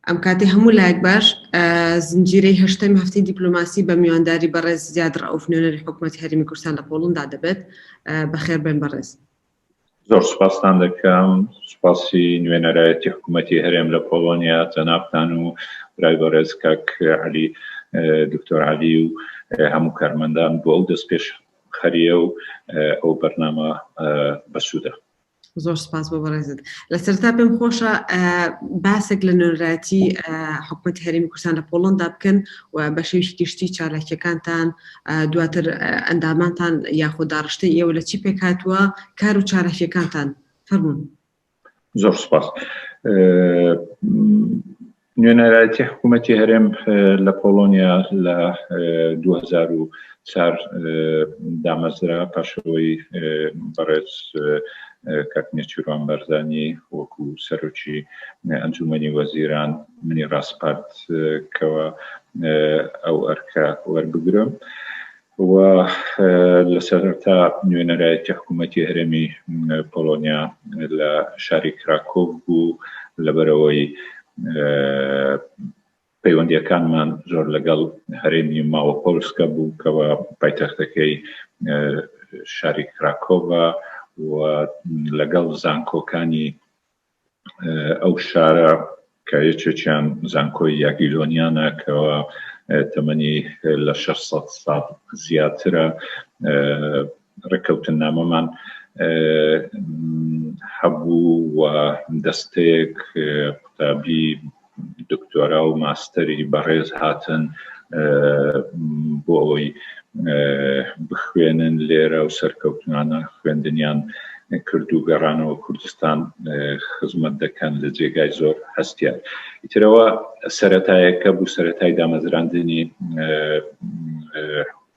ئەم کاتی هەموو لایەک باش زنجیرەی هەشتەم هەفتی دیپلوماسی بە میوانداری بەڕێز زیاد ڕەوف نوێنەری حکوومەت هەرمی کوردستان لە پۆڵندا دەبێت بەخێر بێن بەڕێز. زۆر سوپاستان دەکەم سوپاسی نوێنەرایەتی حکوومەتتی هەرێم لە پۆڵۆنیا جەنابان و برای بەڕێز کاک علی دکتۆر علی و هەموو کارمەندان بۆ ئەو دەست پێش خەریە و ئەو بەرنامە بەسوودە زۆر سپاس بۆ بەڕێزت لە سەرتا پێم خۆشە باسێک لە نوێنراتی حکوومەت هەرمی کوردستان لە پۆڵندا بکەن و بە شێوشی گشتی چالاکیەکانتان دواتر ئەندامانتان یاخۆ داڕشتەی ئێوە لە چی پێکهاتووە؟ کار و چالاکیەکانتان؟ فەرموون. زۆر سپاس. نوێنەرایەتی حکوومەتی هەرێم لە پۆڵۆنیا لە 2004 دامەزرا پاشەوەی بەڕێز کاک نێچیروان بارزانی وەکو سەرۆکی ئەنجومەنی وەزیران منی ڕاسپارد کەوا ئەو ئەرکە وەربگرم و لە سەرەتا نوێنەرایەتی حکوومەتی هەرێمی پۆڵۆنیا لە شاری کراکۆڤ بوو لەبەرەوەی پەیوەندیەکانمان زۆر لەگەڵ هەرێمی ماوە پۆلسکە بوو کەەوە پایتەختەکەی شاری کراکۆڤە و لەگەڵ زانکۆکانی ئەو شارە کە یەکێکیان زانکۆی یاگیلۆنیانە کەەوە تەمەنی لە 600 ساڵ زیاترە ڕێککەوتن نامەمان هەبوو و دەستەیەک قوتابی دکتۆرا و ماستەری بەڕێز هاتن بۆ ئەوەی بخوێنن لێرە و سەرکەوتنانە خوێندنیان کرد و گەڕانەوە کوردستان خزمەت دەکەن لە جێگای زۆر هەستیان ئیترەوە سەتایەکە بوو سەتای دامەزراندنی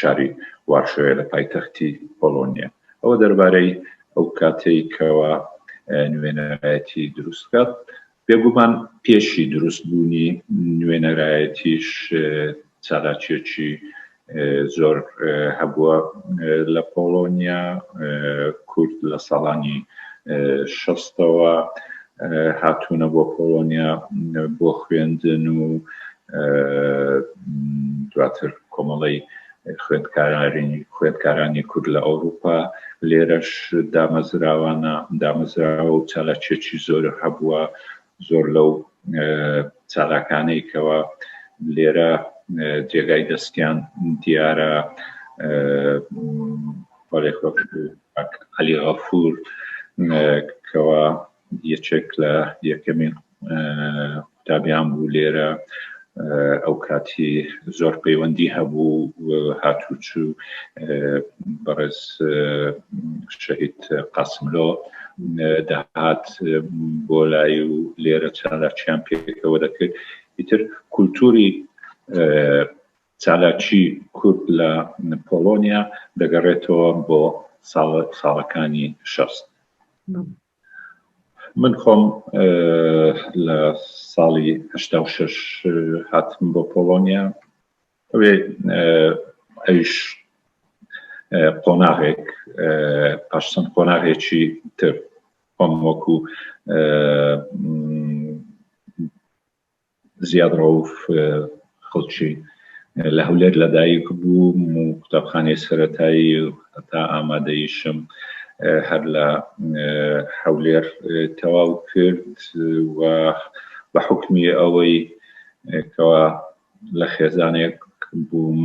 شاری وارشۆیە لە پایتەختی پۆڵۆنیا. ئەوە دەربارەی ئەو کاتەی کەوا نوێنەرایەتی دروست کات بێگومان پێشی دروست بوونی نوێنەرایەتیش چالاکیەکی زۆر هەبووە لە پۆڵۆنیا کورد لە ساڵانی شەستەوە هاتوونە بۆ پۆڵۆنیا بۆ خوێندن و دواتر کۆمەڵەی خوێندکارانی خوێندکارانی کورد لە ئەوروپا لێرەش دامەزراوانە دامەزراوە و چالاکیەکی زۆر هەبووە زۆر لەو چالاکانەی کەەوە لێرە جێگای دەستیان دیارە علی غەفور کەوا یەکێک لە یەکەمین قوتابیان بوو لێرە ئەو کاتی زۆر پەیوەندی هەبوو هاتوچوو بەڕێز شەهید قاسملۆ دەهات بۆ لای و لێرە چالاکیان پێکەوە دەکرد ئیتر کولتوری چالاکی کورد لە پۆڵۆنیا دەگەڕێتەوە بۆ ساڵەکانی شەست. من خۆم لە ساڵی هەشتا و شەش هاتم بۆ پۆڵۆنیا ئەوێ ئەویش قۆناغێک پاشسەند قۆناغێکی تر خۆم وەکو زیاد ڕەوف خەڵکی لە هەولێر لەدایک بووم و قوتابخانەی سەرەتایی هەتا ئامادەیشم هەر لە حەولێر تەواو کرد و بە حکمی ئەوەی کەوا لە خێزانێک بووم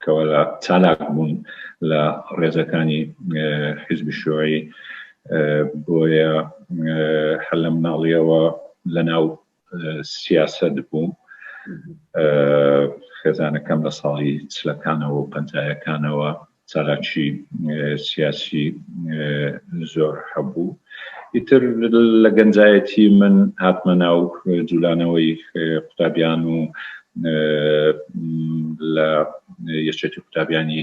کەوا لە چالاک بوون لە ڕێزەکانی حیزبی شوعی بۆیە هەر لە مناڵیەوە لە ناو سیاست بووم خێزانەکەم لە ساڵی چلەکانەوە و پەنجایەکانەوە چالاکی سیاسی زۆر هەبوو ئیتر لە گەنجایەتی من هاتمە ناو جوولانەوەی قوتابیان و لە یەکێتی قوتابیانی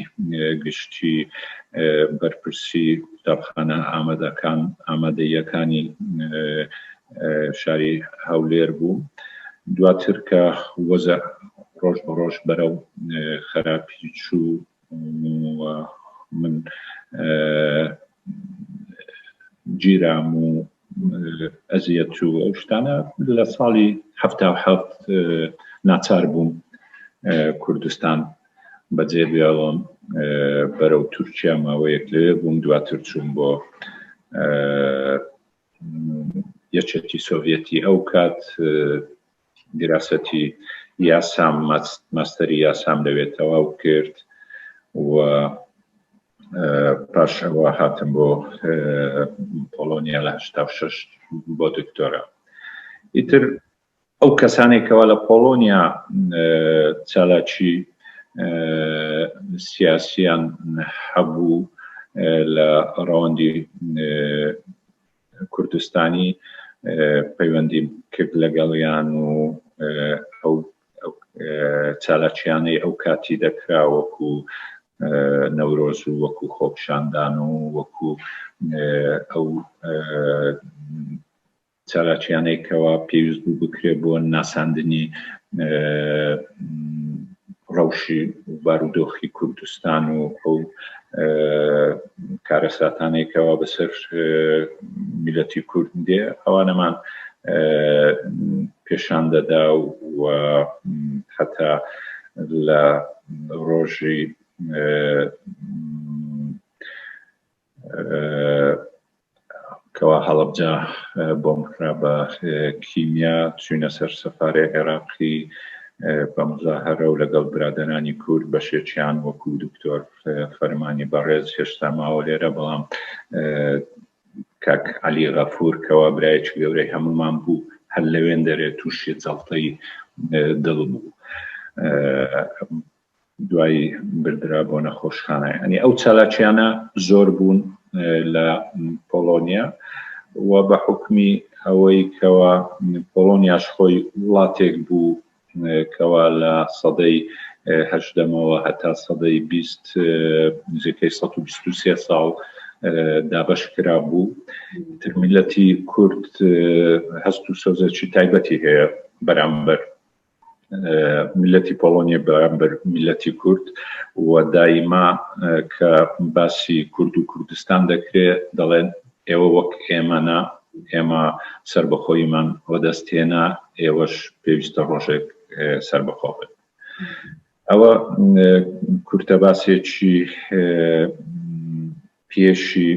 گشتی بەرپرسی قوتابخانە ئامادەکان ئامادەیەکانی شاری هەولێر بوو دواتر کە وەزە ڕۆژ بە ڕۆژ بەرەو خراپی چوو من گیرام و ئەزیەت و ئەو شتانە لە ساڵی ه ناچار بووم کوردستان بەجێ بێڵم بەرەو تورکیا ماوەیەک لەوێ بووم دواتر چوون بۆ یەکێتی سۆڤەتی ئەو کات دیراسەتی یاسام ماستەری یاسام لەوێ تەواو کرد و پاش ئەوە هاتم بۆ پۆڵۆنیا لە هشتا شش بۆ دکتۆرە ئیتر ئەو کەسانێکەوە لە پۆڵۆنیا چالاکی سیاسیان هەبوو لە ڕەوەندی کوردستانی پەیوەندی کرد لەگەڵیان و ئەو چالاکیانەی ئەو کاتی دەکرا وەکو نەورۆز و وەکو خۆپشاندان و وەکو ئەو چالاکیانەی کەوا پێویست بوو بکرێت بۆ ناساندنی ڕەوشی بارودۆخی کوردستان و ئەو کارەساتانێکەوە بەسەر میلەتی کورد دێ ئەوانەمان پێشان دەدا و حتا لە ڕۆژی کەوا هەڵەبجە بۆمب کرا بە کیمیا چوینە سەر سەفارەی عێراقی بە مزاهرە و لەگەڵ برادەرانی کورد بەشێکیان وەکو دکتۆر فەرمانی بەڕێز هێشتا ماوە لێرە بەڵام کاک علی غەفور کەوا برایەکی گەورەی هەمومان بوو هەر لەوێن دەرێت تووشی جەڵتەی دڵ بوو دوای بردرا بۆ نەخۆشخانە ئەنی ئەو چالاکیانە زۆر بوون لە پۆلۆنیا و بە حکمی ئەوەی کەەوە پۆلۆنیاش خۆی وڵاتێک بوو کەوا لە سەدەی هەشدەمەوە هەتا سەدەی بیست نزیکەی 1920 ساڵ دابش کرا بوو ترمیلەتی کورد هەست و سۆزەکی تایبەتی هەیە بەرامبەر میللەتی پۆڵۆنیە بەرامبەر میللەتی کورد و دایما کە باسی کورد و کوردستان دەکرێ دەڵێن ئێوە وەک ئێمەنا ئێمە سربەخۆیمان وەدەست هێنا ئێوەش پێویستە ڕۆژێک سربەخۆ بن ئەوە کورتە باسێکی پێشی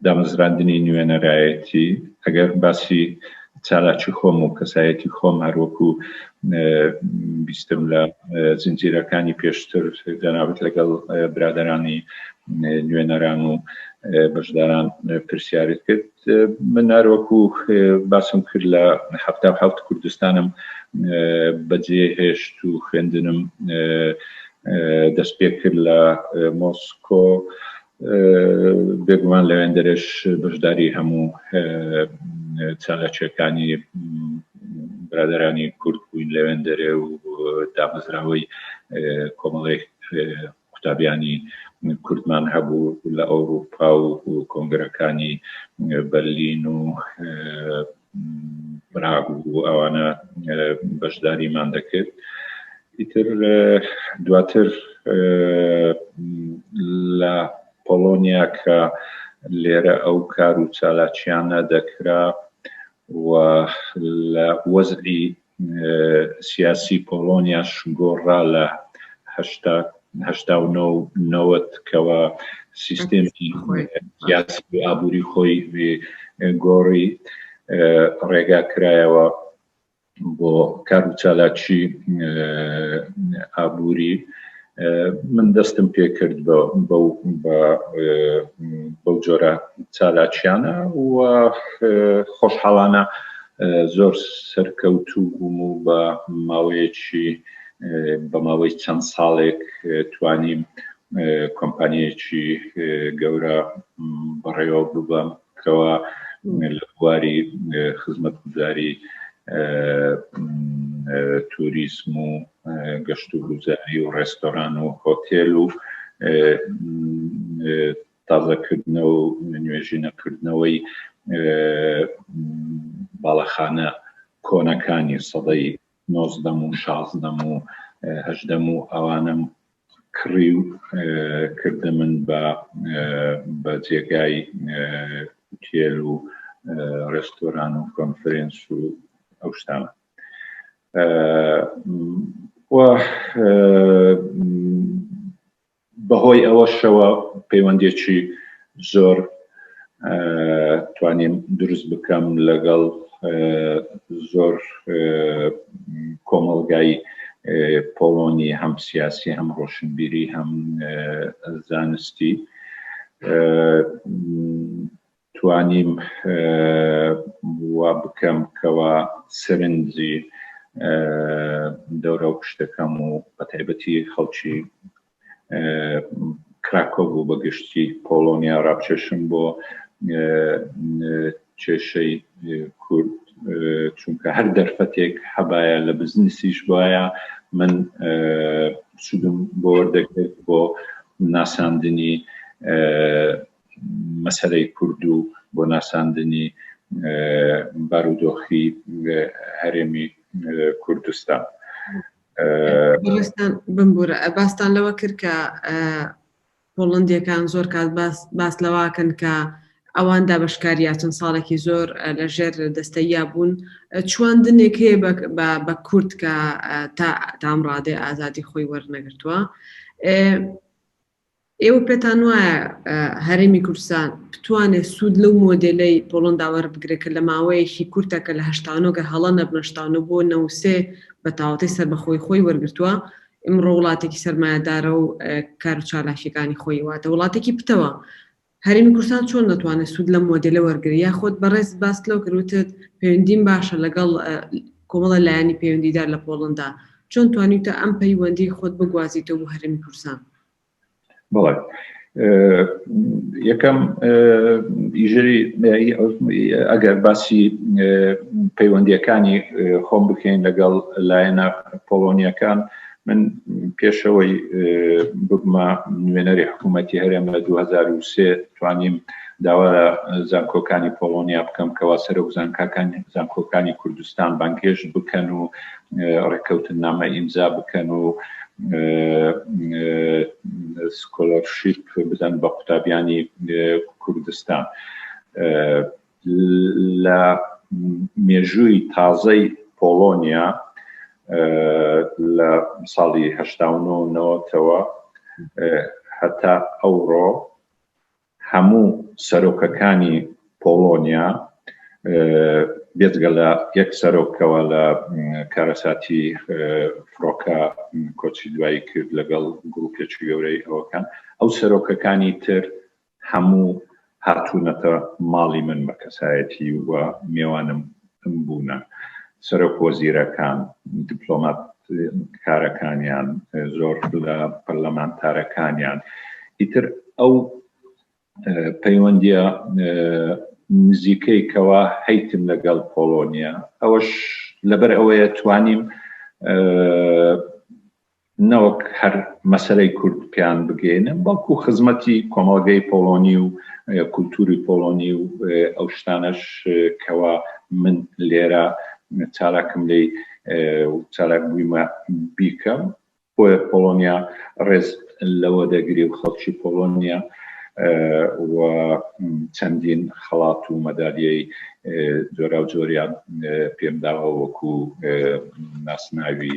دامەزراندنی نوێنەرایەتی، ئەگەر باسی چالاکی خۆم و کەسایەتی خۆم هەر وەکو بیستم لە زنجیرەکانی پێشتر جەنابت لەگەڵ برادەرانی نوێنەران و بەشداران پرسیارت کرد من هەر وەکو باسم کرد لە حەفتا و حەفت کوردستانم بەجێ هێشت و خوێندنم دەست پێ کرد لە مۆسکۆ بێگومان لەوێندەرێش بەشداری هەموو چالاکیەکانی برادرانی کورد بووین لەوێندەرێ و دامەزراوەی کۆمەڵی قوتابیانی کوردمان هەبوو لە ئەوروپا و کۆنگرەکانی بەرلین و بناگوو ئەوانە بەشداریمان دەکرد ئیتر دواتر لە پۆلۆنیا کە لێرە ئەو کار و چالاکیانە دەکرا و لە وەزعی سیاسی پۆڵۆنیاش گۆڕرا لە هەشتا و نۆ و نەوەت کەوە سیستێمی سیاسی ئابووری خۆی گۆڕی ڕێگا کرایەوە بۆ کار و چالاکی ئابووری من دەستم پێکرد بەو جۆرە چالاکیانە و خۆشحاڵانە زۆر سەرکەوتوو بووم و بە ماوەیەکی بە ماوەی چەند ساڵێک توانیم کۆمپانیەکی گەورە بەڕێوە ببەم کەوا لە بواری خزمەتگوزاری توریسم و گەشت و گوزاری و ڕێستۆران و هۆتێل و تازەکردنەوە و نوێژینەکردنەوەی باڵەخانە کۆنەکانی سەدەی نۆزدەم و شازدەم و هەژدەم و ئەوانم کڕی و کردە من بە بە جێگای تێل و ڕێستۆران و کۆنفرێنس و ئەو شتانە بەهۆی ئەوەشەوە پەیوەندیەکی زۆر توانیم دروست بکەم لەگەڵ زۆر کۆمەڵگای پۆڵۆنی هەم سیاسی هەم ڕۆشنبیری هەم زانستی توانیم وابکەم کەوا سەرنجی دەورەو پشتەکەم و بەتایبەتی خەڵکی کراکۆ بوو بە گشتی پۆڵۆنیا ڕابچێشم بۆ کێشەی کورد چونکە هەر دەرفەتێک هەبایە لە بزنسیش بایە من سودم بۆ وەردەکرد بۆ ناساندنی مەسەلەی کورد و بۆ ناساندنی بارودۆخی هەرێمی کوردستان بمبورە باستان لەوە کرد کە پۆڵندیەکان زۆر کات باس لەواکەن کە ئەوان دابشکاریا چەند ساڵێکی زۆر لە ژێر دەستەیە بوون چواندنێک هەیە بە کورد کە تا تامڕادێ ئازادی خۆی وەرنەگرتووە ئێوە پێتان وایە هەرێمی کوردستان بتوانێت سوود لەو مۆدێلەی پۆڵەندا وەربگرێت کە لە ماوەیەکی کورتە کە لە هەشتا و نۆ گەر هەڵە نەبم هەشتا و نۆ بۆ نەوەد و سێ بە تاوەتەی سەربەخۆیی خۆی وەرگرتووە ئمڕۆ وڵاتێکی سەرمایەدارە و کار و چالاکییەکانی خۆی واتە وڵاتێکی پتەوە هەرێمی کوردستان چۆن دەتوانێت سوود لەم مۆدێلە وەرگرێت؟ یاخود بەڕێزت باست لەوە کرد وتت پەیوەندیم باشە لەگەڵ کۆمەڵە لایەنی پەیوەندیدار لە پۆڵندا، چۆن توانیوتە ئەم پەی وەندیەی خۆت بگوازیتەوە بۆ هەرێمی کوردستان؟ بەڵێ یەکەم ئیژری ئەگەر باسی پەیوەندیەکانی خۆم بکەین لەگەڵ لایەنە پۆڵۆنیەکان من پێشەوەی ببمە نوێنەری حکوومەتی هەرێم لە 2023 توانیم داوا لە زانکۆکانی پۆڵۆنیا بکەم کەوا سەرۆک زانکاکانی زانکۆکانی کوردستان بانگهێشت بکەن و ڕێککەوتننامە ئیمزا بکەن و سکۆلەرشیپ بدەن بە قوتابیانی کوردستان. لە مێژووی تازەی پۆڵۆنیا لە ساڵی هەشتا و نۆ و نەوەتەوە هەتا ئەوڕۆ هەموو سەرۆکەکانی پۆڵۆنیا بێجگە لە یەک سەرۆکەوە لە کارەساتی فڕۆکە کۆچی دوایی کرد لەگەڵ گروپێکی گەورەی ئەوەکان ئەو سەرۆکەکانی تر هەموو هاتوونەتە ماڵی من بە کەسایەتی و مێوانم بوونە، سەرۆک وەزیرەکان، دیپلۆماتکارەکانیان، زۆر لە پەرلەمانتارەکانیان، ئیتر ئەو پەیوەندییە نزیکەی کەوا هەیتم لەگەڵ پۆڵۆنیا، ئەوەش لەبەر ئەوەیە توانیم نەوەک هەر مەسەلەی کورد پێیان بگەینم بەڵکو خزمەتی کۆمەڵگەی پۆڵۆنی و کولتوری پۆڵۆنی و ئەو شتانەش کەوا من لێرە چالاکم لی چالاک بوویمە بیکەم بۆیە پۆڵۆنیا ڕێز لەوە دەگری و خەڵکی پۆڵۆنیا و چەندین خەڵات و مەدالیەی جۆرا و جۆریان پێمداوە وەکو ناسناوی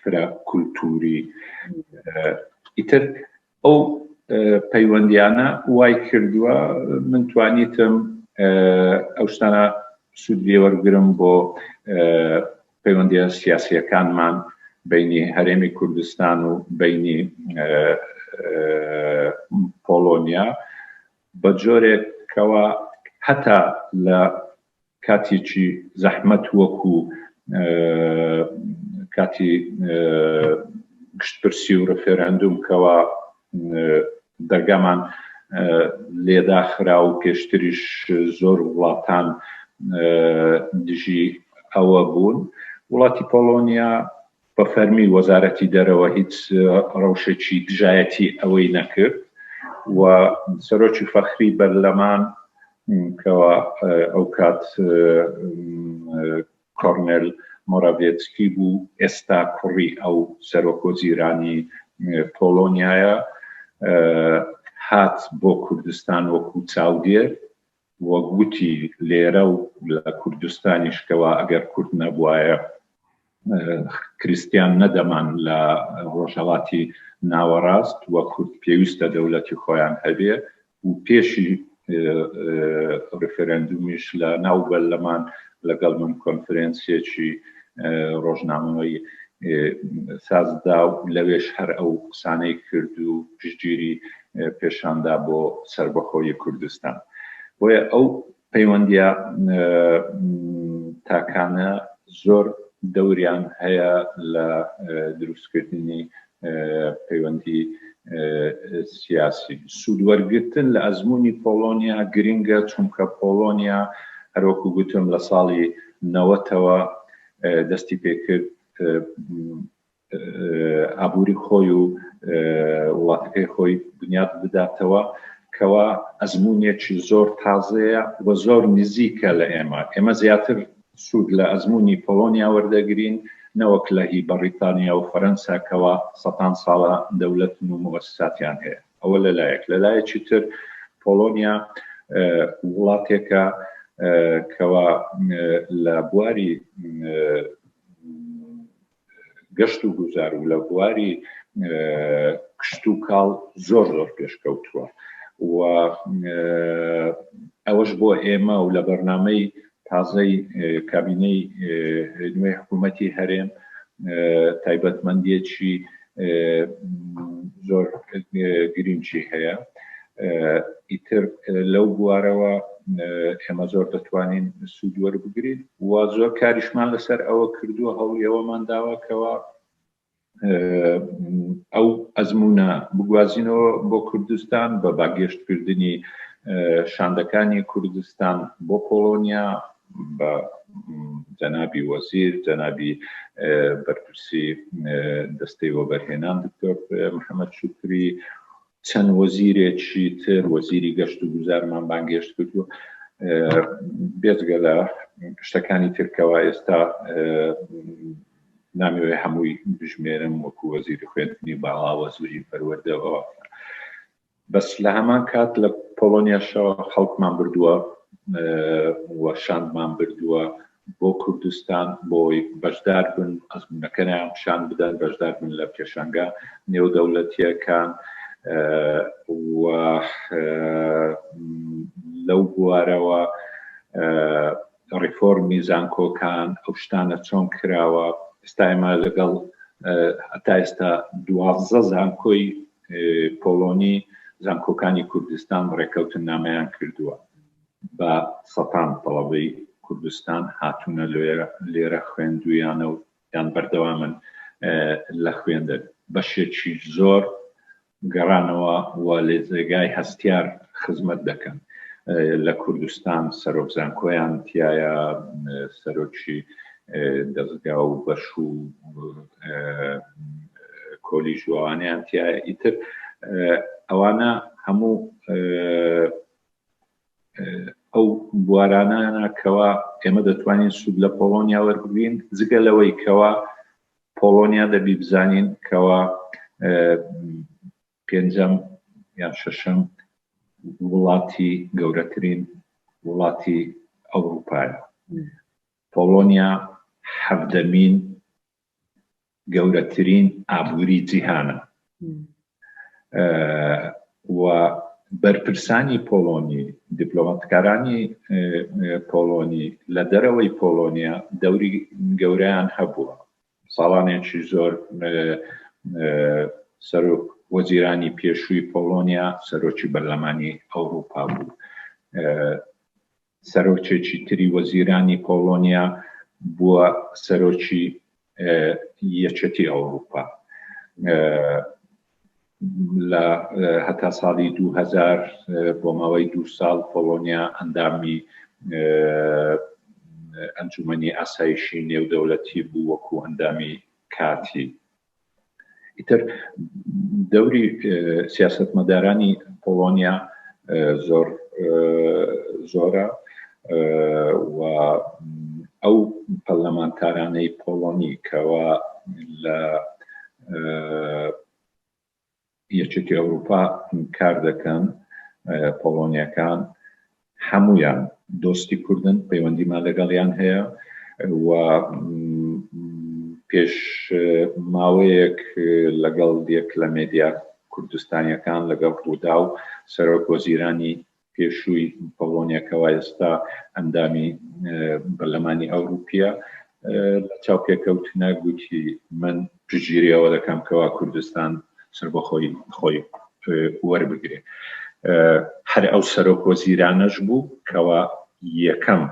فرە کولتووری ئیتر ئەو پەیوەندیانە وای کردووە من توانیتم ئەو شتانە سوودێ وەرگرم بۆ پەیوەندیە سیاسیەکانمان بینی هەرێمی کوردستان و بینی پۆلۆنیا بە جۆرێکەوە هەتا لە کاتێکی زەحمەت وەکو کاتی گشتپرسی و ڕفێراندوم کەوا دەرگامان لێداخرا و پێشتریش زۆر وڵاتان دژی ئەوە بوون وڵاتی پۆڵۆنیا بە فەرمی وەزارەتی دەرەوە هیچ ڕەوشێکی دژایەتی ئەوەی نەکرد و سەرۆکی فەخری بەرلەمان کەوا ئەو کات کۆرنێل مۆراڤێتسکی بوو ئێستا کوڕی ئەو سەرۆک وەزیرانی پۆڵۆنیایە هات بۆ کوردستان وەکو چاودێر وەک وتی لێرە و لە کوردستانیش کەوا ئەگەر کورد نەبوایە کریستیان نەدەمان لە ڕۆژهەڵاتی ناوەڕاست و کورد پێویستە دەولەتی خۆیان هەبێ و پێشی ڕفرەندومیش لە ناو بەرلەمان لەگەڵ من کۆنفرەنسێکی ڕۆژنامەوەی سازدا و لەوێش هەر ئەو قسانەی کرد و پشتگیری پێشاندا بۆ سەربەخۆیی کوردستان بۆیە ئەو پەیوەندیە تاکانە زۆر دەوریان هەیە لە دروستکردنی پەیوەندی سیاسی سوودوەرگتن لە ئەزمموی پۆلۆنیا گرنگە چونکە پۆلۆنیا هەرۆکو گوتم لە ساڵی نەوەتەوە دەستی پێکرد ئابوری خۆی و وڵاتەکەی خۆی بنیاد بداتەوە کەوا ئەزمونێکی زۆر تازەیە و زۆر نزیکە لە ئێمە ئێمە زیاتر سوود لە ئەزمموی پۆلۆنیا وەردەگرین نەوەک لە هی بەڕیتانیا و فەرەنسا کەوا سەتان ساڵە دەولەت و موەسساتیان هەیە ئەوە لەلایەک لەلایەکی تر پۆلۆنیا وڵاتێکە کەوا لە بواری گەشت و گوزار و لە بواری کشت و کاڵ زۆر زۆر پێشکەوتووە و ئەوەش بۆ ئێمە و لە بەرنمەی تازەی کابینەی نوێ حکوومەتی هەرێم تایبەتمەندیەکی زۆر گرینگی هەیە ئیتر لەو بوارەوە ئێمە زۆر دەتوانین سوود وەربگرین و زۆر کاریشمان لەسەر ئەوە کردووە هەوڵی ئەوەمان داوە کەەوە ئەو ئەزمونە بگوازینەوە بۆ کوردستان بە باگەشتکردنی شاندەکانی کوردستان بۆ پۆڵۆنیا بە جەنابی وەزیر، جەنابی بەرپرسی دەستەی وەبەرهێنان دکتۆر محەمەد شوکری، چەند وەزیرێکی تر وەزیری گەشت و گوزارمان بانگێشت کرد و بێجگە لە شتەکانی ترکەوە ئێستا نامەوێ هەمووی بژمێرم وەکو وەزیری خوێندنی باڵا وەزیری پەروەردەوە بەس لە هەمان کات لە پۆڵۆنیاشەوە خەڵکمان بردووە و شاندمان بردووە بۆ کوردستان بۆی بەشدار بن ئەزمونەکەیان پیشان بدەن بەشدار بن لە پێشانگا نێودەولەتیەکان و لەو بوارەوە ڕیفۆرمی زانکۆکان ئەو شتانە چۆن کراوە ئێستا ئێمە لەگەڵ هەتا ئێستا دوازدە زانکۆی پۆڵۆنی زانکۆکانی کوردستان ڕێکەوتننامەیان کردووە بە سەتان تەڵەبەی کوردستان هاتوونە لێرە خوێندویانە و یان بەردەوامن لە خوێندن بەشێکی زۆر گەڕانەوە و لێ جێگای هەستیار خزمەت دەکەن لە کوردستان سەرۆک زانکۆیان تایە سەرۆکی دەزگا و بەش و کۆلیژ وانیان تیا ئیتر ئەوانە هەموو ئەو بوارانانە کەوا ئێمە دەتوانین سوود لە پۆڵۆنیا وەربگرین جگە لەوەی کەوا پۆڵۆنیا دەبی بزانین کەوا پێنجەم یان شەشەم وڵاتی گەورەترین وڵاتی ئەوروپایە پۆڵۆنیا حەڤدەمین گەورەترین ئابووری جیهانە و بەرپرسانی پۆڵۆنی دیپلۆماتکارانی پۆڵۆنی لە دەرەوەی پۆڵۆنیا دەوری گەوریان هەبووە ساڵانێکی زۆر سەرۆک وەزیرانی پێشووی پۆڵۆنیا سەرۆکی بەرلەمانی ئەوروپا بوو سەرۆکێکی تری وەزیرانی پۆڵۆنیا بووە سەرۆکی یەکێتی ئەوروپا لە هەتا ساڵی 2000 بۆ ماوەی دو ساڵ پۆڵۆنیا ئەندامی ئەنجومنی ئاسایشی نێودەولەتی بوو وەکو ئەندامی کاتی ئیتر دەوری سیاستمەدارانی پۆڵۆنیا زۆر زۆرە و ئەو پەرلەمانتارانەی پۆڵۆنی کەوا لە یەکێتی ئەوروپا ئینکار دەکەن پۆڵۆنیەکان هەمویان دۆستی کوردن پەیوەندیمان لەگەڵیان هەیە و پێش ماوەیەک لەگەڵ یەک لە مێدیا کوردستانیەکان لەگەڵ ڕوودا و سەرۆک وەزیرانی پێشووی پۆڵۆنیا کەوا ئێستا ئەندامی بەرلەمانی ئەوروپیە لە چاوپێکەوتنە گوتی من پژگیری ئەوە دەکەم کەوا کوردستان سربەخۆی خۆی وەربگرێ هەر ئەو سەرۆک وەزیرانەش بوو کەوا یەکەم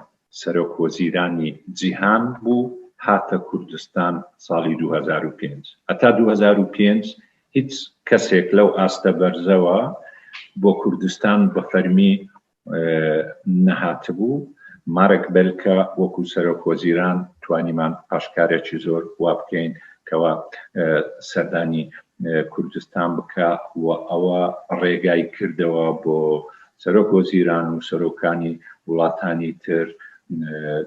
سەرۆک وەزیرانی جیهان بوو هاتە کوردستان ساڵی 2005 هەتا 2005 هیچ کەسێک لەو ئاستە بەرزەوە بۆ کوردستان بە فەرمی نەهاتبوو، مارک بێلکە وەکو سەرۆک وەزیران توانیمان پاشکارێکی زۆر وا بکەین کەوا سەردانی کوردستان بکا و ئەوە ڕێگای کردەوە بۆ سەرۆک وەزیران و سەرۆکانی وڵاتانی تر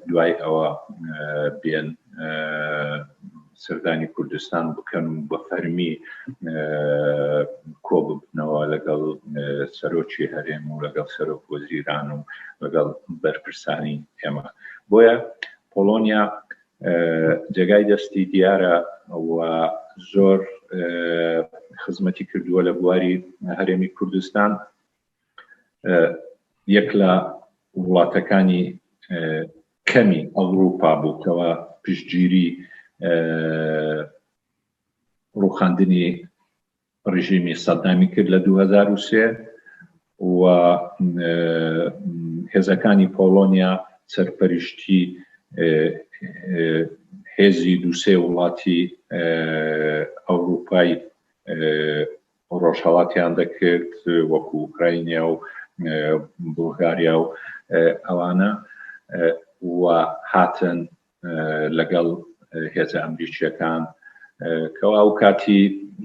دوای ئەوە بێن سەردانی کوردستان بکەن و بە فەرمی کۆببنەوە لەگەڵ سەرۆکی هەرێم و لەگەڵ سەرۆک وەزیران و لەگەڵ بەرپرسانی ئێمە بۆیە پۆلۆنیا جێگای دەستی دیارە و زۆر خزمەتی کردووە لە بواری هەرێمی کوردستان یەک لە وڵاتەکانی کەمی ئەوروپا بوو کەەوە پشتگیری ڕوخاندنی ڕژیمی سەدامی کرد لە 2023 و هێزەکانی پۆلۆنیا سەرپەرشتی هێزی دووسێ وڵاتی ئەوروپای ڕۆژهەڵاتیان دەکرد وەکو ئوکراینیا و بولغاریا و ئەوانە و هاتن لەگەڵ هێزە ئەمریکییەکان کەوا ئەو کاتی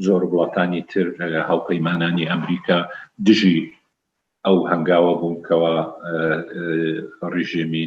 زۆر وڵاتانی تر هاوپەیمانانی ئەمریکا دژی ئەو هەنگاوە بوون کەوا ڕژێمی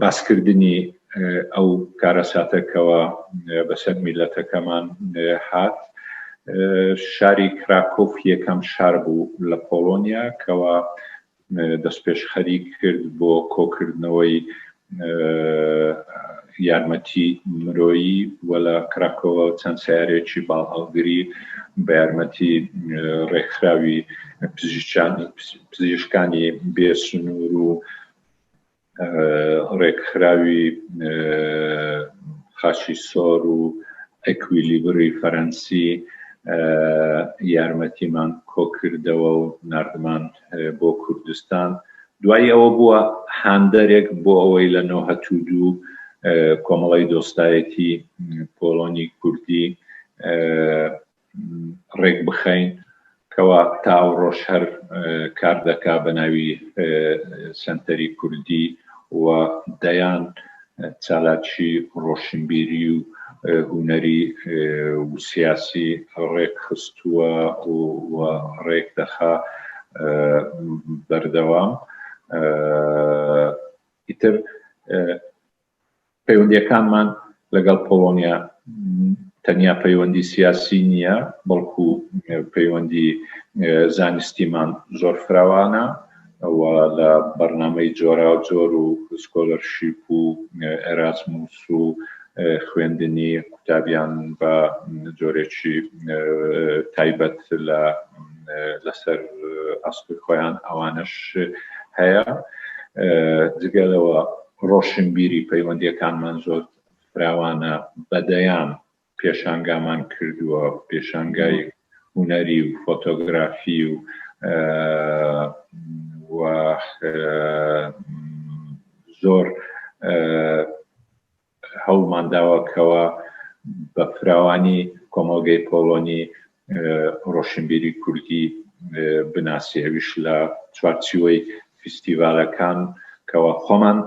باسکردنی ئەو کارەساتە کەوا بەسەر میللەتەکەمان هات، شاری کراکۆف یەکەم شار بوو لە پۆڵۆنیا کەوا دەستپێشخەری کرد بۆ کۆکردنەوەی یارمەتی مرۆیی و لە کراکۆوە چەند سەیارەیەکی باڵ هەڵگری بە یارمەتی ڕێکخراوی پزیشکانی پزیشکانی بێ سنوور و ڕێکخراوی خاچی سۆر و ئەکویلیبری فەرەنسی یارمەتیمان کۆکردەوە و نردمان بۆ کوردستان دوای ئەوە بووە هاندەرێک بۆ ئەوەی لە نۆهەتو دوو کۆمەڵی دۆستایەتی پۆڵۆنی کوردی ڕێک بخەین کەوا تاو ڕۆژ هەر کار دەکا بە ناوی سنتەری کوردی و دەیان چالاکی ڕۆشنبیری و هونەری و سیاسی ڕێک خستووە و ڕێک دەخا بەردەوام ئیتر پەیوەندییەکانمان لەگەڵ پۆڵۆنیا تەنیا پەیوەندی سیاسی نییە، بەڵکو پەیوەندی زانستیمان زۆر فراوانە و لە بەرنامەی جۆراوجۆر و سکۆلەرشیپ و ئێرازموس و خوێندنی قوتابیان بە جۆرێکی تایبەت لە لەسەر ئەسڵی خۆیان ئەوانەش هەیە جگە لەوە ڕۆشنبیری پەیوەندییەکانمان زۆر فراوانە، بە دەیان پێشانگامان کردووە، پێشانگای هونەری و فۆتۆگرافی و و زۆر هەوڵمان داوە کەوا بە فراوانی کۆمەڵگەی پۆڵۆنی ڕۆشنبیری کوردی بناسی ئەویش لە چوارچیوەی فیستیڤالەکان کەوا خۆمان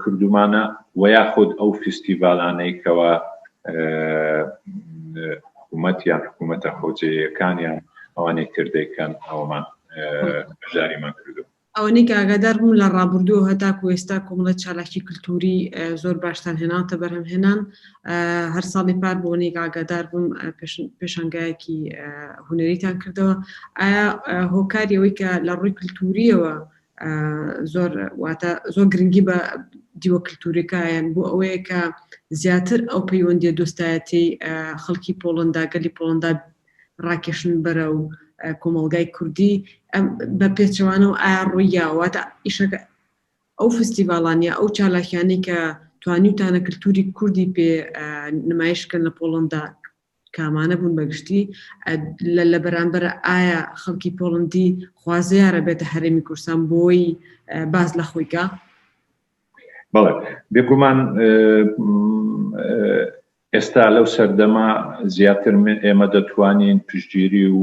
کردومانە و یاخود ئەو فیستیڤالانەی کەوا حکوومەت یان حکوومەتە خۆجێیەکانیان ئەوانەی تردەکەن ئەومان بەشداریمان کردو ئەوانەی کە ئاگادار بوون لە ڕابوردووەوە هەتاکوو ئێستا کۆمەڵە چالاکی کلتووری زۆر باشتان هێناوەتە بەرهەم هێنان. هەر ساڵی پار بۆ ئەوەنەی کە ئاگادار بووم پێشانگایەکی هونەریتان کردەوە. ئایا هۆکاری ئەوەی کە لە ڕووی کلتوورییەوە زۆر واتە زۆر گرنگی بە دیوە کلتووریەکایەن بۆ ئەوەیە کە زیاتر ئەو پەیوەندیە دۆستایەتیەی خەڵکی پۆڵەندا گەلی پۆڵەندا ڕاکێشن بەرەو کۆمەڵگای کوردی بە پێچەوانە و ئایا ڕوویاواتە ئیشەکە ئەو فستیڤالانیا ئەو چالاکیانی کە توانیوتانە کللتوری کوردی پێ نمایشکەن لە پۆڵندا کامانە بوون بەگشتی لە لە بەرامبەر ئایا خەڵکی پۆڵندی خوازیارە بێتە هەرێمی کورسان بۆی باز لە خۆیکە بەڵێ بێگومان ئێستا لەو سەردەمە زیاتر ئێمە دەتوانین پشتگیری و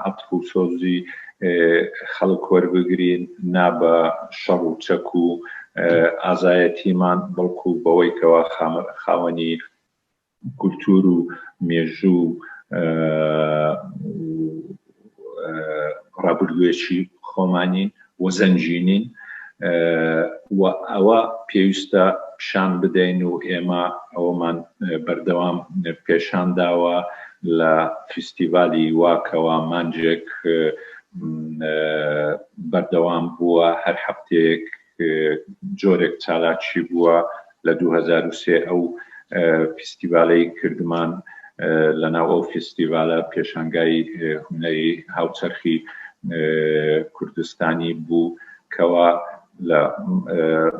عەتف و سۆزی خەڵک وەربگرین، نا بە شەڕ و چەک و ئازایەتیمان، بەڵکو بەوەی کەوا خاوەنی کولتوور و مێژوو و ڕابردوێکی خۆمانین و زەنگینین و ئەوە پێویستە پیشان بدەین و ئێمە ئەوەمان بەردەوام پێشان داوە لە فیستیڤالی واکەوە مانجێک بەردەوام بووە هەر هەفتەیەک جۆرێک چالاکی بووە لە 2023 ئەو فیستیڤالەی کردمان لەناو ئەو فیستیڤالە پێشانگای هونەری هاوچەرخی کوردستانی بوو کەوا لە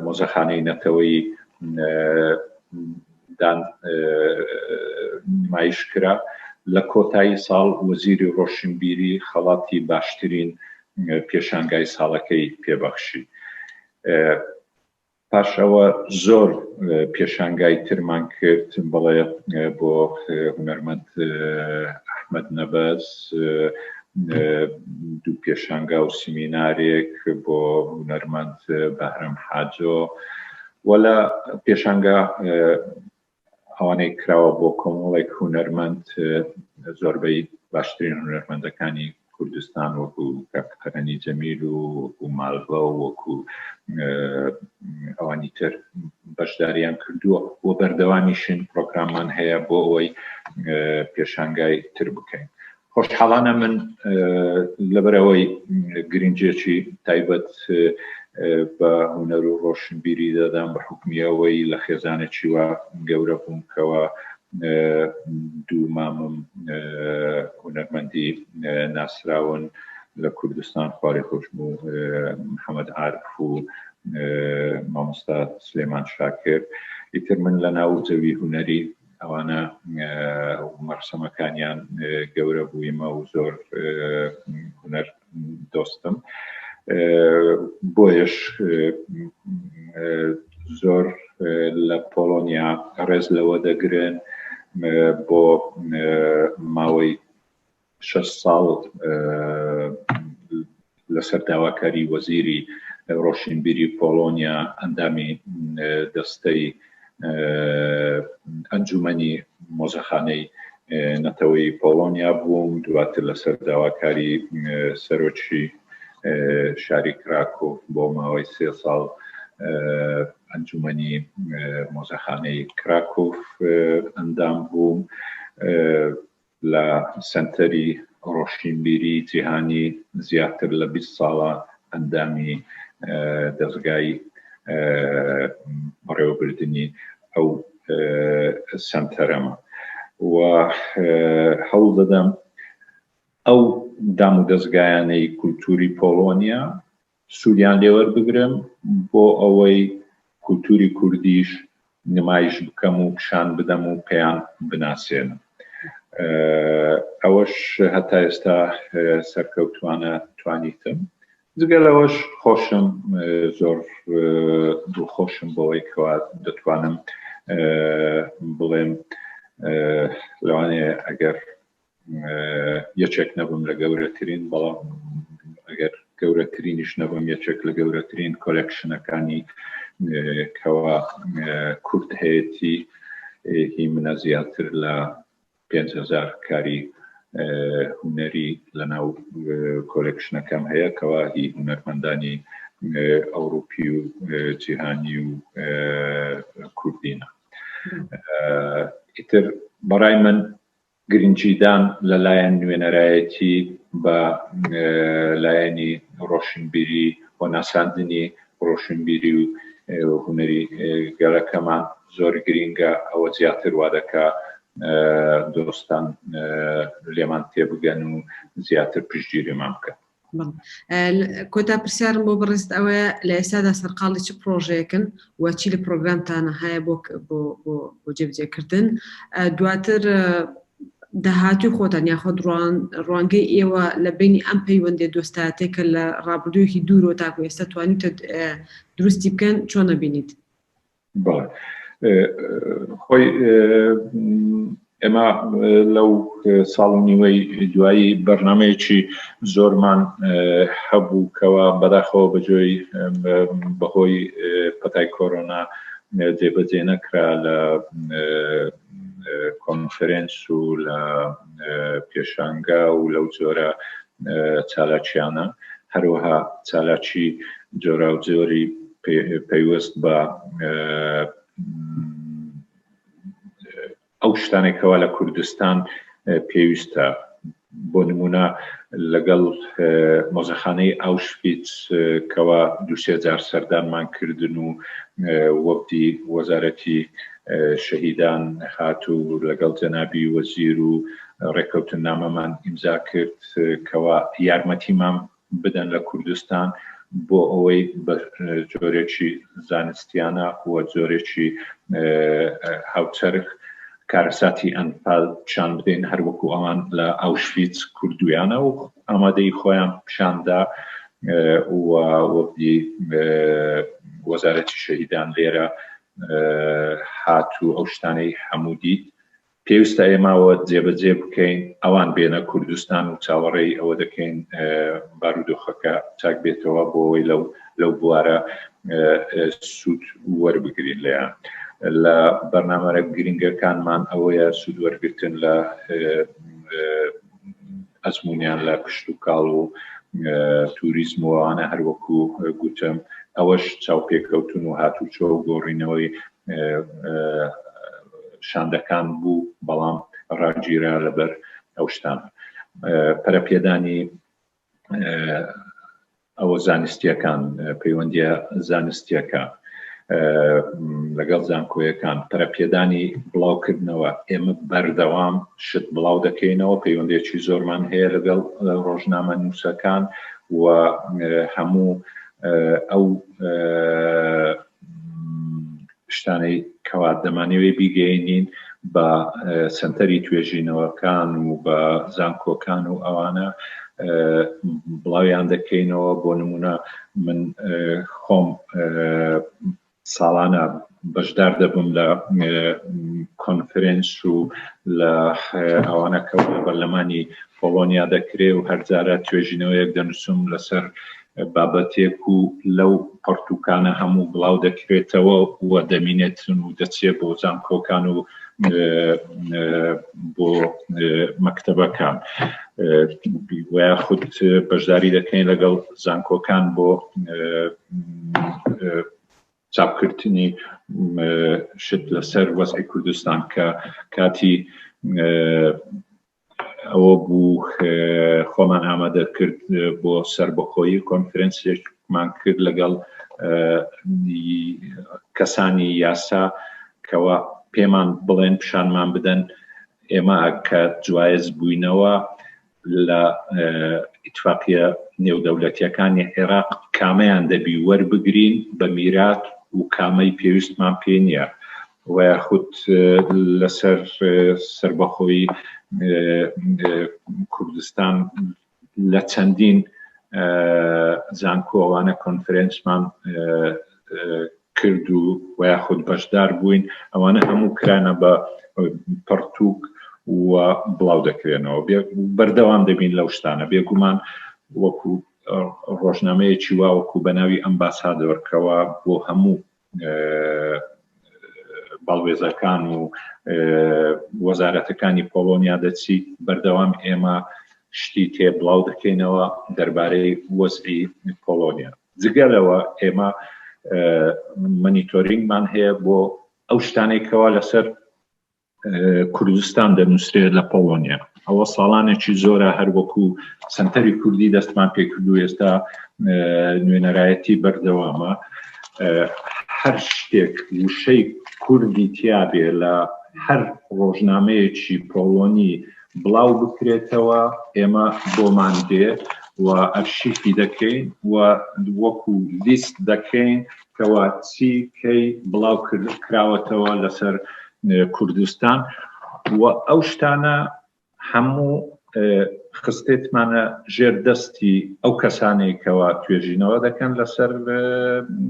مۆزەخانەی نەتەوەی دان نمایش کرا. لە کۆتایی ساڵ وەزیری ڕۆشنبیری خەڵاتی باشترین پێشانگای ساڵەکەی پێبەخشی. پاش ئەوە زۆر پێشانگای ترمان کرد بەڵێ بۆ هونەرمەند ئەحمد نەبەز دوو پێشانگا و سمینارێک بۆ هونەرمەند بەهرەم حاجۆ وەلا پێشانگا ئەوانەی کراوە بۆ کۆمەڵێک هونەرمەند زۆربەی باشترین هونەرمەندەکانی کوردستان وەکو کاکتەرەنی جەمیل و وەکو مالڤە و وەکو ئەوانی تر بەشداریان کردووە و بەردەوامیشن پرۆگراممان هەیە بۆ ئەوەی پێشانگای تر بکەین خۆشحاڵانە من لەبەرئەوەی گرنگیەکی تایبەت بە هونەر و ڕۆشنبیری دەدەم بە حکمیەوەی لە خێزانێکی وە گەورە بووم کەەوە دوو مامم هونەرمەندی ناسراون لە کوردستان خوارێ خۆشم و محەممەد عرف و مامۆستا سلێمان شاکر ئیتر من لە ناو زەوی هونەری ئەوانە مەرسەمەکانیان گەورە بوویمە و زۆر هوەر دۆستم بۆیش زۆر لە پۆلۆنیا ڕێز لەوە دەگرن بۆ ماوەی شەش ساڵ لەسەر داواکاری وەزیری ڕۆشنبیری پۆڵۆنیا ئەندامی دەستەی ئەنجومەنی مۆزەخانەی نەتەوەی پۆڵۆنیا بووم دواتر لەسەر داواکاری سەرۆکی شاری کراکۆف بۆ ماوەی سێ ساڵ ئەنجومەنی مۆزەخانەی کراکۆف ئەندام بووم لە سەنتەری ڕۆشنبیری جیهانی زیاتر لە بیست ساڵە ئەندامی دەزگای بەڕێوەبردنی ئەو سەنتەرەمە و هەوڵ دەدەم ئەو دامودەزگایانەی کولتووری پۆڵۆنیا سوودیان لێ وەربگرم بۆ ئەوەی کولتووری کوردیش نمایش بکەم و پیشان بدەم و پێیان بناسێنم. ئەوەش هەتا ئێستا سەرکەوتووانە توانیتم. جگە لەوەش خۆشم زۆر دڵخۆشم بەوەی کەوا دەتوانم بڵێم لەوانەیە ئەگەر یەکێک نەبم لە گەورەترین بەڵام ئەگەر گەورەترینیش نەبم یەکێک لە گەورەترین کۆلکشنەکانی کەوا کورد هەیەی هی منە زیاتر لە 5هزار کاری هوەری لەناو کۆلکشنەکەم هەیە کەوا هی هوەرمەندانی ئەوروپی و جیهانی و کوردینە ئیتر بەڕای من گرنگیدان لە لایەن نوێنەرایەتی بە لایەنی ڕۆشنبیری و ناساندنی ڕۆشنبیری و هونەری گەلەکەمان زۆر گرینگە، ئەوە زیاتر وا دەکا دۆستان لێمان تێبگەن و زیاتر پشتگیریمان بکەن. کۆتا پرسیارم بۆ بەڕێزت ئەوەیە لە ئێستادا سەرقاڵی چ پڕۆژەیەکن و چی لە پرۆگرامتانە هەیە بۆ بۆ جێبجێکردن دواتر داهاتوی خۆتان یاخۆ دڕوان ڕوانگەی ئێوە لە بینی ئەم پەیوەندێ دۆستاتێک کە لە ڕابردوویەکی دوورۆ تاکو ئێستا توانیتە دروستی بکەن چۆن نەبینیت بەڵێ خۆی ئێمە لەو ساڵ و نیوەی دوایی بەرنمەیەکی زۆرمان هەبوو کەەوە بەداخەوە بەجۆی بەهۆی پەتای کۆرۆنا جێبەجێ نەکرا لە کۆنفرێنس و لە پێشانگا و لەو جۆرە چالاکیانە، هەروەها چالاکی جۆراوجۆری پەیوەست بە ئەو شتانێک کەوا لە کوردستان پێویستە بۆ نمونە لەگەڵ مۆزەخانەی ئاوشفیت کەوا دوسێ جار سەردانمان کردن و وەفدی وەزارەتی شەهیدان هات و لەگەڵ جەنابی وەزیر و ڕێکەوتننامەمان ئیمزا کرد کەوا یارمەتیمان بدەن لە کوردستان بۆ ئەوەی بە جۆرێکی زانستیانە و جۆرێکی هاوچەرخ کارەساتی ئەنفال پیشان بدەین هەروەکو ئەوان لە ئاوشفیت کوردویانە و ئامادەی خۆیان پیشاندا و وەبدی وەزارەتی شەهیدان لێرە هات و ئەو شتانەی هەموو دیت پێویستە ئێماوە جێبەجێ بکەین ئەوان بێنە کوردستان و چاوەڕێی ئەوە دەکەین بارودۆخەکە چاک بێتەوە بۆەوەی لەو لەو بوارە سوود وەربگرین لەیان لە بەرنامەرە گرنگەکانمان ئەوەیە سوود وەرگتن لە ئەزمونیان لە کشت و کاڵ و توریزمەوەوانە هەروەکو گوتم ئەوەش چاوپێکەوتن و هاتوچۆ و گۆڕینەوەی شاندەکان بوو بەڵام ڕاگیرا لەبەر ئەو شتان پەرەپێدانی ئەوە زانستیەکان پەیوەندیە زانستیەکە لەگەڵ زانکۆیەکان پەرەپێدانی بڵاوکردنەوە ئێمە بەردەوام شت بڵاو دەکەینەوە پەیوەندێکی زۆرمان هەیە لەگەڵ ڕۆژنامە نووسەکان و هەموو ئەو شتانەی کەوا دەمانەوێ بیگەێنین بە سنتەری توێژینەوەکان و بە زانکۆکان و ئەوانە بڵاویان دەکەینەوە بۆ نمونە من خۆم ساڵانە بەشدار دەبم لە کۆنفرنس و لە ئەوانە کە بەرلەمانی پۆڵۆنیا دەکرێ و هەرجارە توێژینەوەیەک دەنووسم لەسەر بابەتێک و لەو پەڕتووکانە هەموو بڵاو دەکرێتەوە و دەمینێتن و دەچێت بۆ زانکۆکان و بۆ مەکتتەبەکان خود بەشداری دەکەین لەگەڵ زانکۆکان بۆ چاپکردنی شت لەسەر وەزعی کوردستان کە کاتی ئەوە بوو خۆمان ئامادە کرد بۆ سربەخۆیی کۆنفرەنسێکمان کرد لەگەڵ کەسانی یاسا کەوا پێمان بڵێن پیشانمان بدەن ئێمە کە جوایز بووینەوە لە ئیتفاقیە نێودەولەتیەکانی عێراق کامەیان دەبی وەربگرین بە میرات و کامەی پێویستمان پێ نییە و یاخود لەسەر سەربەخۆیی کوردستان لە چەندین زانکۆ ئەوانە کۆنفرێنسمان کرد و و یاخود بەشدار بووین ئەوانە هەموو کرانە بە پڕتوک و بڵاو دەکرێنەوە بەردەوام دەبین لەو شتانە بێگومان وەکو ڕۆژنامەیەکی واوەکو بە ناوی ئەمباسادۆرکەوە بۆ هەموو باڵوێزەکان و وەزارەتەکانی پۆڵۆنیا دەچیت بەردەوام ئێمە شتی تێ بڵاو دەکەینەوە دەربارەی وەزعی پۆڵۆنیا جگەلەوە ئێمە منیتۆرینگمان هەیە بۆ ئەو شتانێکەوە لەسەر کوردستان دەنووسرێت لە پۆڵۆنیا ئەوە ساڵانێکی زۆرە هەروەکو سنتەری کوردی دەستمان پێکردو ئێستا نوێنەرایەتی بەردەوامە هەر شتێک وشەی کوردی تیاابێ لە هەر ڕۆژنامەیەکی پۆڵۆنی بڵاو بکرێتەوە ئێمە بۆمان دێ و ئەرشیفی دەکەین و وەکو لیست دەکەین کوا چی کەی بڵاو کراوەتەوە لەسەر کوردستان و ئەو شتانە هەموو خستێتمانە ژێر دەستی ئەو کەسانێکەوە توێژینەوە دەکەن لەسەر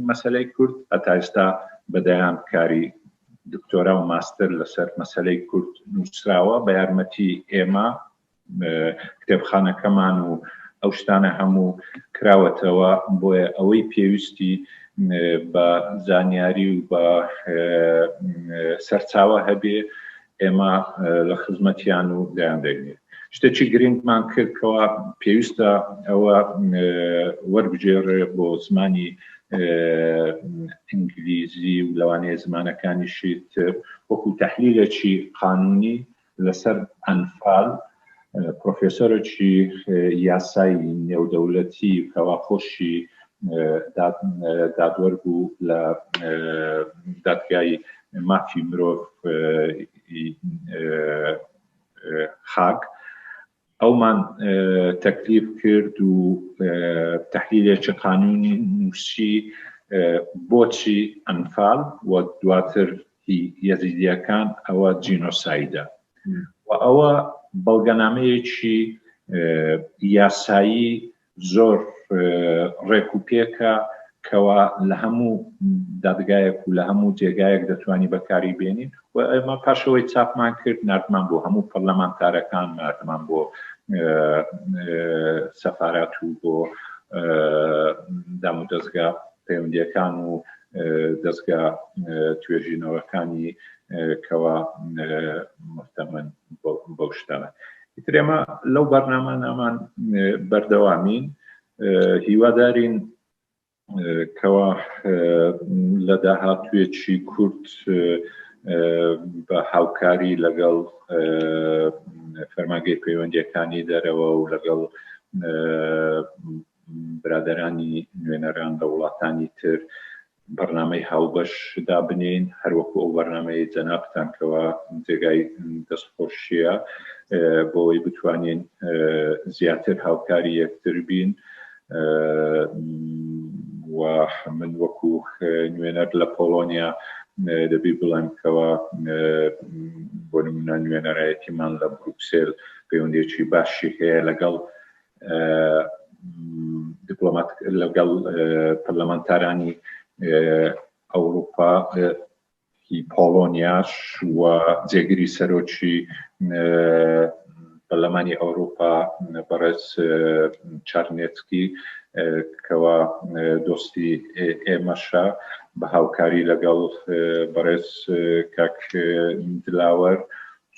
مەسلەی کورد هەتا ئێستا بەدەیان کاری دکتۆرا و ماستر لەسەر مەسلەی کورد نووسراوە بە یارمەتی ئێمە کتێبخانەکەمان و ئەو شتانە هەموو کراوەتەوە بۆیە ئەوەی پێویستی بە زانیاری و بە سەرچاوە هەبێ ئێمە لە خزمەتیان و دەیان دەگرێت شتێکی گرنگمان کرد کەوا پێویستە ئەوە وەربگێڕێ بۆ زمانی ئینگلیزی و لەوانەیە زمانەکانیشی تر وەکو تحلیلێکی قانونی لەسەر ئەنفال پرۆفێسۆرێکی یاسای نێودەولەتی کەوا خۆشی دادوەر بوو لە دادگای مافی مرۆڤ خاک ئەومان تەکلیف کرد و تەحلیلێکی قانوونی نووسی بۆچی ئەنفال و دواتر هی یەزیدیەکان ئەوە جینۆسایدە و ئەوە بەڵگەنامەیەکی یاسایی زۆر ڕێک و پێکە کەوا لە هەموو دادگایەک و لە هەموو جێگایەک دەتوانانی بەکاری بێنین و ئەمە پاشەوەی چاپمان کرد نردمان بۆ هەموو پەرلەمانتارەکان نردمان بۆ سەفارات و بۆ دام و دەستگا پەیوەندیەکان و دەستگا توێژینەوەکانی کەوا محتەمەند بەو شتانە ئیتر ئێمە لەو بەرنامانامان بەردەوامین هیوادارین کەوا لە داهاتوێکی کورت بە هاوکاری لەگەڵ فەرماگەی پەیوەندیەکانی دەرەوە و لەگەڵ برادرانی نوێنەران لە وڵاتانی تر بەرنامەی هاوبەش دابنێین هەروەکو ئەو بەرنامەی جەنابتان کەوا جێگای دەستخۆشیە بۆی بتوانین زیاتر هاوکاری یەکتر بین و من وەکو نوێنەر لە پۆڵۆنیا دەبی بڵێم کەوا بۆ نمونە نوێنەرایەتیمان لە بروکسێل پەیوەندێکی باشی هەیە لەگەڵ دیپلۆمات لەگەڵ پەرلەمانتارانی ئەوروپا هی پۆڵۆنیاش و جێگری سەرۆکی پەرلەمانی ئەوروپا بەڕێز چارنێتکی کەوا دۆستی ئێمەشە بە هاوکاری لەگەڵ بەڕێز کاک دلاوەر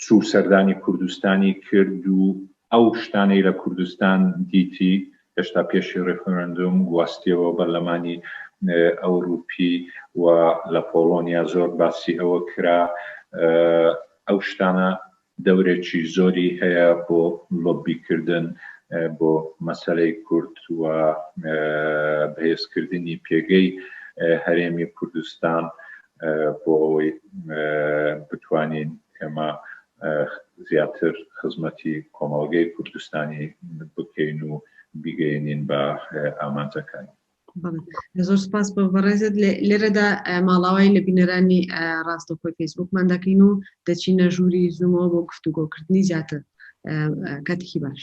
چوو سەردانی کوردستانی کرد و ئەو شتانەی لە کوردستان دیتی هێشتا پێشی ڕیفرندوم گواستیەوە بەرلەمانی ئەوروپی و لە پۆڵۆنیا زۆر باسی ئەوە کرا ئەو شتانە دەورێکی زۆری هەیە بۆ لۆبی کردن بۆ مەسەلەی کورد و بەهێزکردنی پێگەی هەرێمی کوردستان بۆ ئەوەی بتوانین ئێمە زیاتر خزمەتی کۆمەڵگەی کوردستانی بکەین و بیگەیەنین بە ئامانجەکانی. زۆر سپاس بۆ بەڕێزت لێرەدا ماڵاوای لە بینەرانی ڕاستەخۆی فەیسبوکمان دەکەین و دەچینە ژووری زوومەوە بۆ گفتوگۆکردنی زیاتر کاتێکی باش.